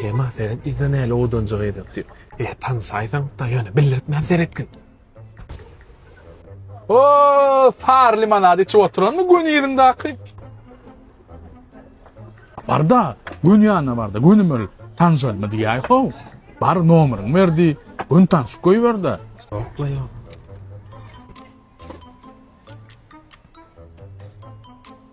Kema seret ýa-da näle odanjyk edip diýip. E, tanşaýsaň, da ýöne bildirtmän seretgin. O, sar limonad içip oturanmy göni ýeriňdäki? Barda, gün ýanyna barda, göni mül tanşaýma diýäý ho. Bar nomeryň berdi, gün tanşyp goýberde. Ýokla ýok.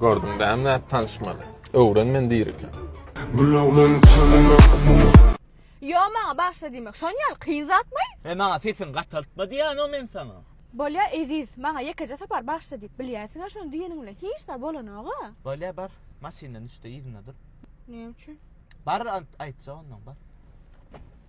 Gördüň dämli et tanşmaly. Öwren men dirike. Yo maňa başla diýmek. Şon ýaly kyn zatmy? He maňa sesiň gataltma diýýän o men saňa. Bolýa Eziz, maňa ýekeje sapar başla diýip bilýäsiňä şony diýeniň bilen hiç zat bolanoga. Bolýa bar, maşyndan düşde yzyna dur. Näme üçin? Bar aýtja ondan bar.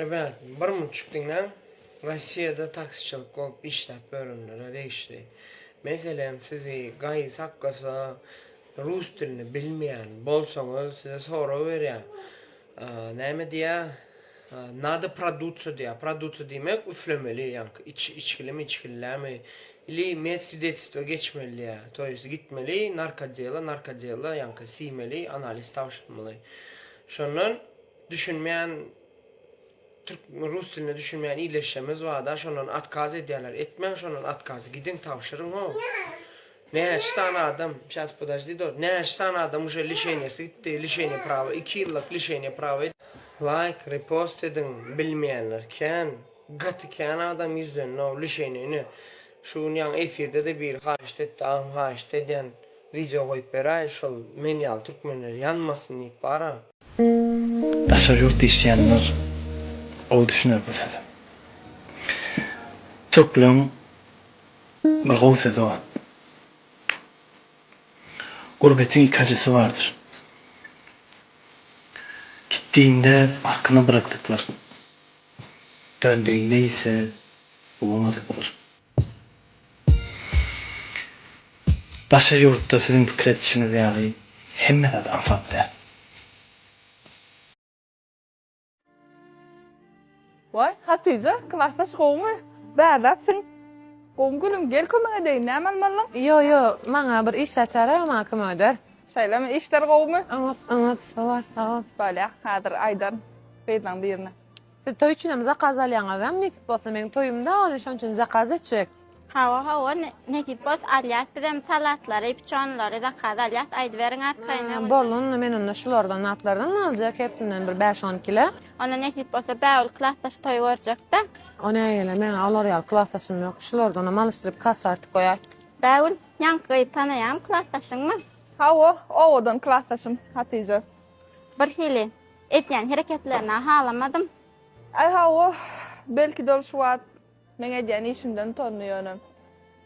Rebet, bir munçuk diňläň, Rossiýada taksiçilik bolup işläp ýörenlere degişli. Meselem, sizi gaýy saklasa, rus dilini bilmeýän bolsaňyz, size sorag berýär, näme diýýär, Nada produciu diýýär. Produciu diýmek, üflemeli, ýaňky iç, içgilimi, içgillämi, ili med swidetistva geçmeli diýýär. To ýest, gitmeli, narkodela, narkodela, ýaňky siýmeli, analiz tabşyrmaly. Şondan düşünmeýän türk, rus diline düşünmeýän ildeşlerimiz bar-da, şondan otkaz edýärler. Etmäň şondan otkazy, gidiň, tabşyryň, ho. Näçe sany adam, sýas podajdi do, näçe sany adam uje lişeniýasy gitdi, lişeniýa prawa, iki ýyllyk lişeniýa prawa. Laýk, repost ediň, bilmeýänler kän, gaty kän adam ýüzleninow lişeniýa ine şu gün ýaňy efirdede biri haýyşt etdi agam haýyşt edýän wideo goýup beräý şol men ýaly türkmenler ýanmasyn diýip bara. Daşary ýurt diýişýänler gowy düşüner bu söze. Türkleriň bir gowy sözi bar. Gurbetiň iki ajysy bardyr. Gitdigiňde arkaňa bırakdyklary, döndügiňde ise gowamadyklary. Daşary ýurtda siziň pikir edişiňiz ýaly hemme zat aňsat däl. Waý, Hatyja, klasdaş gowumy? Bärdeksiň. Gowumy gülüm, gel kömek edeýin, näme almalyň? Ýo, ýo, maňa bir iş açara, maňa kömek eder. Şeýlemi, işler gowumy? Oňat, oňat, sowar, sagol. Bolýa, häzir aýdaryn gyzlaň birine. Siz toý üçinem zakaz alýaňyzam nesip bolsa meň toýumda ony şoň üçin zakaz etjek. Hawa hawa nesip bolsa alýas bizem salatlary piçonlary zakaz alýas aýdyberiň arkaýyna. Hä boldy onda men onda şulardan zatlardan aljak hersinden bir bäş on kile. Onda nesip bolsa bägül klasdaş toý görjekdä. O nägile meň-ä olar ýaly klasdaşym ýok şulardanam alyşdyryp kassa artyp goýaý. Bägül ýaňky gyzy tanaýaňmy klasdaşyňmy? Hawa owadan klasdaşym Hatyja. Birhili edýän hereketlerine halamadym. Aý hawa, belki-de ol şu wagt meň edýän işimden utandy ýöne.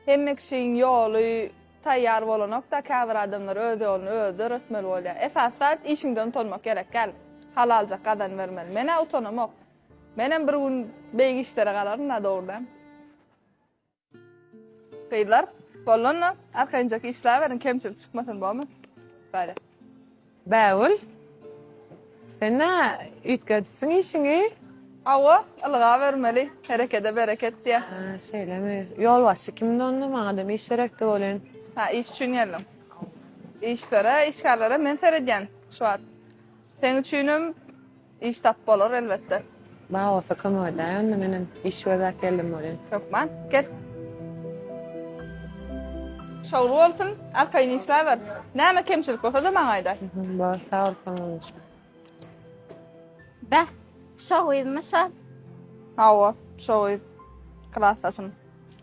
Hemme kişiň ýoly taýýar bolanok-da, käbir adamlar öz ýoluny özi döretmeli bolýar. Esasy zat işiňden utanmak gerek däl. Halaljak gazanyp bermeli. Men-ä utanamok. Menem bir gün beýik işlere galaryn-da dogry däl. Gyzlar bollanda arkaýynjak işläberiň kemçilik çykmasyn bomy. Bale. Bägül sen nä üýtgedipsiň işiňi. Hawa ylgabermeli herekede bereket diýä. Hä şeýlemi. Ýolbaşçy kimdi onda maňadam iş gerekdi welin. Hä iş üçin geldim. Işlere işgärlere men seredýän şu wagt. Seň üçinem Iş tap bolar elbetde. Bar bolsa kömek edäýiň onda menem iş gözläp geldim bolýan. Hökman gel. Şowly bolsun arkaýyn işläber. Näme kemçilik bolsada maňa aýda. Bor sag bol kömek üçin. Beh şo gyzmy şo. Hawa şo gyz. Klasdaşym.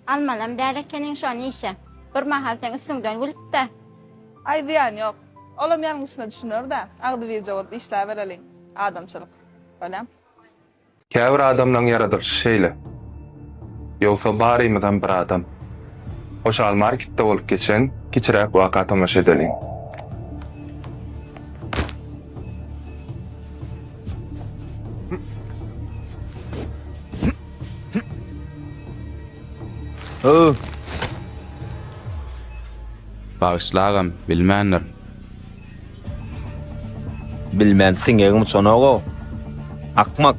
Almalam däl ekeniň şony işe. Bir mahal seň üstüňden gülüp-de. Aý zyýany ýok. Olam ýalňyşyna düşüner-dä, agzybirje bolup işläbereliň. Adamçylyk. Bolýam. Käbir adamlaň ýaradylyşy şeýle. Ýogsa barymyzam bir adam. Hoşal marketde bolup geçen kiçiräk waka tomaşa edeliň. Öh! Bagyşla agam, bilmändir. Bilmän siňegim uçanok-ow. Akmak.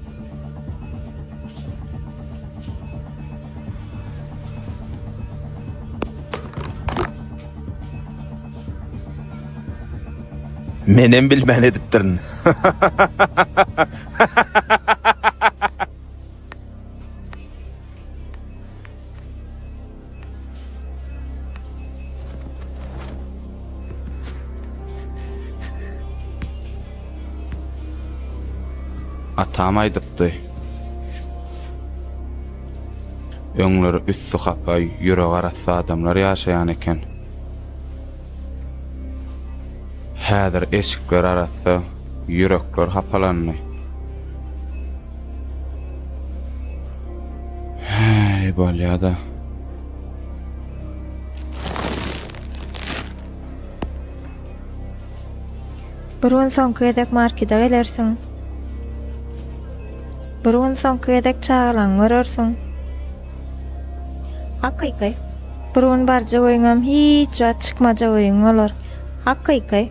Menem bilmän edipdirin. Atam aýdypdy. Öňler üstü hapa, ýüregi arassa adamlar ýaşaýan eken. Häzir eşikler arassa, ýürekler hapalandy. Häý, bolýa-da. Bir gün soňky gezek markida gelersiň. Bir gün soňky gezek çagalaňy görersiň. Hakyky. Bir gün barjak öýüňem hiç wagt çykmajak öýüň bolar. Hakyky.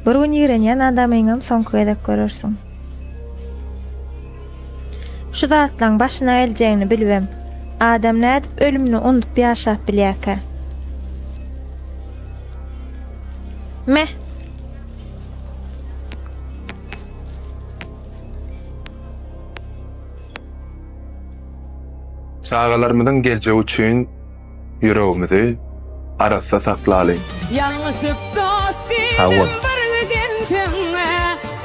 Bir gün ýigrenýän adamyňam soňky gezek görersiň. Şu zatlaň başyna geljegini bilibem. Adam nädip ölümini unudyp ýaşap bilýärkä? Meh. Çagalarymyzyň geljegi üçin ýüregimizi arassa saklalyň! Ýalňyşyp dost diýdim bir widintiňe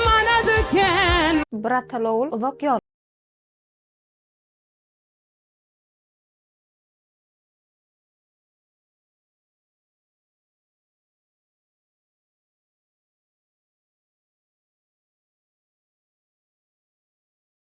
manat eken. Brata lowul uzak ýol.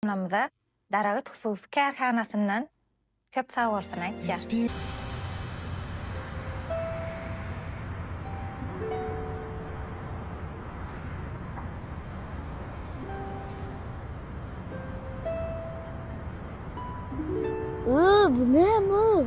Kärhanamyza Daragyt hususy kärhanasyndan köp sag bolsun aýtýas. Ooh bu näme o.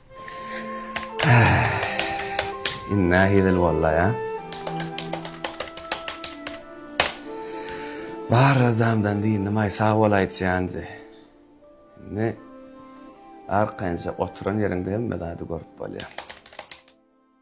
Indi nähili bollaý-a? Barra damdan dyndymaý sag bolaýçy Ýanjy. Indi arkaýynja oturan ýeriňde hemme zady görüp bolýar.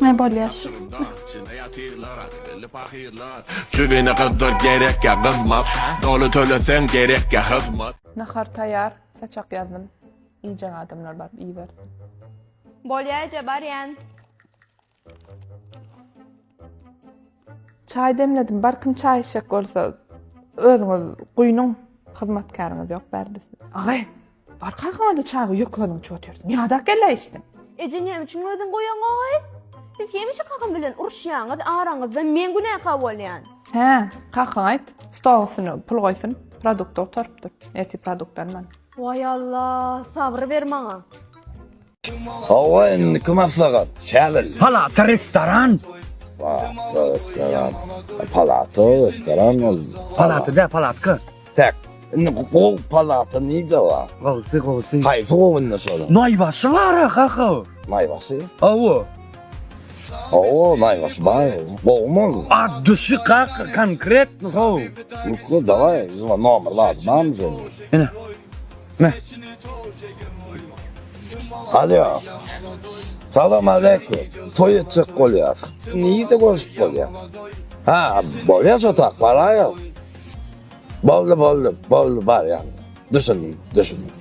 Ne bolýas? Çübine gyzdyr gerek ya gymmat Dolu tölesen gerek ya hızmat Nahar taýar, saçak ýazdym. Iýjek adamlar baryp iýibersin. Bolýa eje barýan. Çaý demledim. Barkim çaý içjek bolsa özüňiz guýnuň. Hyzmatkäriňiz ýok bärde siz. Agay, bar kakaňada çaýy ýok özüň içip otyrsyň. Ýadak geldi içdim. Eje näme üçin özüň goýaňoý? Siz hemişe kakam bilen uruşýaňyz, araňyzda men günäkär bolýan. Hä, kakaňa aýt, stol üstüne pul goýsun, produkt otarypdyr. Ertir produkt alman. Waý Allah, sabr ber maňa. Hawa indiki maslahat şäbelli. Palata restoran. Palata restoran. Palata restoran ol. Palata da palatka. Tak. Indi gow palata nide wa? Gowsy gowsy. Haýsy gow indi şolar? Naýbaşy bar kaka. Naýbaşy? Hawa. Hawa naýbaşy bar. Gowmy ol? Addyşy kaka konkretny gow. Lukla daway, zuma nomer lazymamy sende? Ene. Alýo. Salam aleýkum. Toý etjek bolýas. Nirede görüşip bolýa? Ha, bolýa şo tak, baraýas. Boldy, boldy, boldy, barýan. Düşündim, düşündim.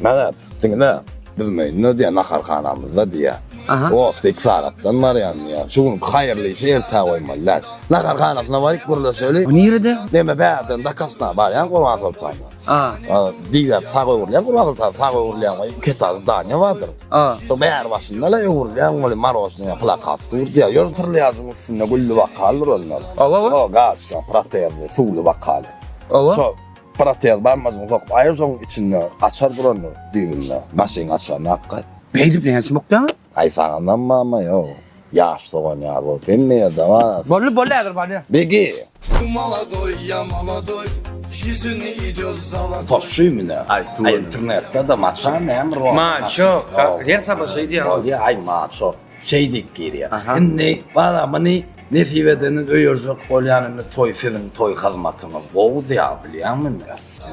Mele, diňle. Biz meýnde diýä naharhanamyzda diýä. Aha. Ofda iki sagatdan barýan diýä. Şu gün haýyrly işi ertä goýmalylar. Naharhanasyna baryp gürleşeli. O nirede? Neme bärden dakasna barýan Gurban Soltanyna. A. A, diýýär, sag öwrülýän gurbagyz sag, sag öwrülýän we iki etaž zdaniýa bardyr. A. Şol bäri başynda-la öwrülýän weli marožnaya plakat dur diýýär. Ýöne trlýažyň üstünde gülli wakal dur onda. Oba, oba. O, gaçka, protezli, suwly wakal. Oba. Şo protez barmajygyňy sokup aýyr, şoň içinde açar durandyr düýbünde, maşyn açaryny alyp gaýt. Beýdip näçe mukýaň? Aý saňanam mama ýow ýaş sogan ýaly bolup hemme ýer dabar as. Bolly bolly häzir barýa. Begi. Bu maladoy ya maladoy jizyny idios zaladoy. Poşşy mine internetde de maço näme rol. Maço kakka her saba şeý diýýär. Bolýa aý maço şeý diýip girýär. Indi bara muny nesip edeniz öýerjek bolýan indi toý siziň toý hyzmatyňyz gowy diýýär bilýäňmi indi.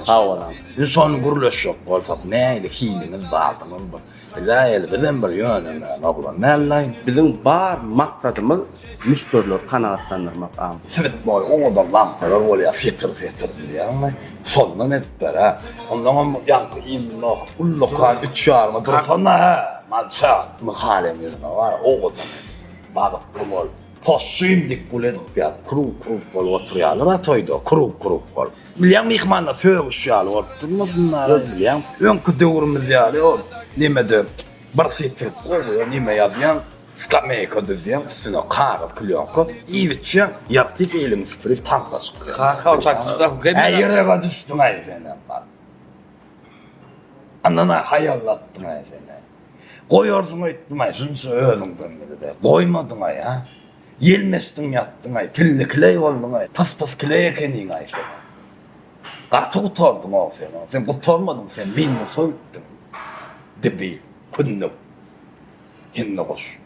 Sag boluň. Indi şony gürleşjek bolsak nähili hiliňiz bardygyny bir. Izaýel bizem bir ýönemäň oglan däldaý. Biziň bar maksadymyz müşderileri kanagatlandyrmak a. Sebit boýy oňada lampalar bolýa setir setir bilýäňmi? Şondan edip ber-ä. Ondaňam ýaňky indi nohut ullakan üç ýaryma dursana-hä, mança. Myhal hem ýüzüne bar, owadan edip. Bagtly bol. Possyn dip bul edip ýap, krug krug bolup oturýalar a toýda, krug krug bolup. Bilýän myhmanlar sögüş ýaly bolup durmasyn a öz bilýän. Öňki döwrümiz ýaly ol nemede bir sytryk gowy neme ýazýaň, skameýka düzýäň, üstüne kagyz plýonka iýip içýäň, ýagtyk eliňi süpürip tansa çykýaň. Kaka ol taksistler hukym edýär. Äý ýürege düşdüň-aý senem bar. Yndan-a haýallatdyň-aý sen-ä. Goýarsyň öýtdüm-aý, şunça özüňden bilip-ä, goýmadyň-aý, a? Ýelmeşdiň ýatdyň-aý, pilli-kileý bolduň-aý, pys-pys kileý ekeniň-aý sen. Gaty gutardyň-ow sen, a? Sen gutarmadyň, sen minus öýtdüň. Dibi, kündük, hindigoş.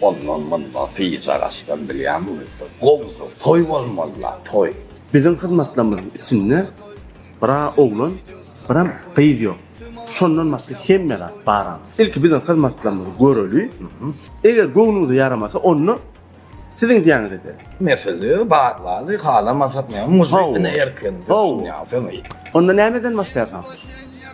Ondan munda syýja gaçdan bilýämiňizdir. Gowusyz toý bolmaly-la, toý. Biziň hyzmatlarymyzyň içinde bir-a oglan, biram gyz ýok. Şondan başga hemme zat baram. Ilki biziň hyzmatlarymyzy göreli. Eger göwnüňize ýaramasa, onda siziň diýýäňizi ederis. Mesele bar zady halamasak näme, muzyka ine erkenize düşünýärsiňiz. Onda nämeden başlaýarsyňyz?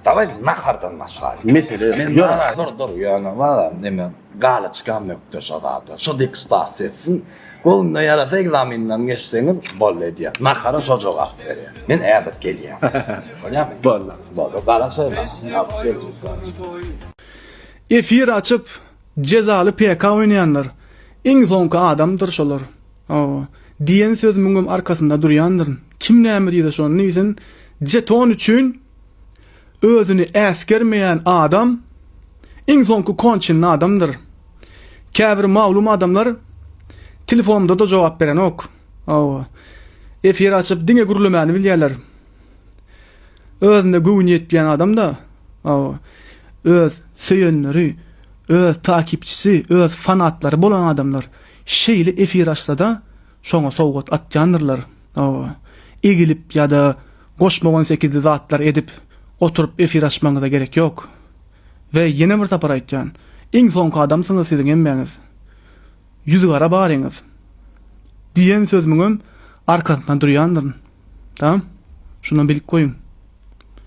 Dawaý, nahardan başlaýyň. Mesele ýok. Dur, dur, ýöne bar, neme. Galyçkam ökde şo zada. Şo deputat sezsin. Golunda ýarasa ekzamenden geçseňiz boldy edýär. Nahara şo jogap berýär. Men ädip gelýän. Bolýamy? Boldy. Boldy. Gara söýme. Alyp geljek zat. Efir açyp jezaly PK oýnaýanlar iň soňky adamdyr şolar hawa diýen söz müňem arkasynda durýandyryn kim näme diýse şony diýsin jeton üçin Özüni äsgermeýän adam iň soňky konçenli adamdyr. Käbir maglum adamlar telefonymda-da jogap berenok. Hawa. Efir açyp diňe gürlemäni bilýärler. Özüne göwni ýetmeýän adam-da, hawa, öz söýenleri, öz takipçisi, öz fanatlary bolan adamlar şeýle efir açsa-da, Şoňa sowgat atýandyrlar. Hawa. Egilip ýa-da goşmagan sekizli zatlar edip oturyp efir açmagyňyza gerek ýok. We ýene bir sapar aýtýan, iň soňky adamsyňyz siziň hemmäňiz. Ýüzügara baryňyz. Diýen sözümiňem arkasynda durýandyryn. Tamam? Şunam bilip goýuň.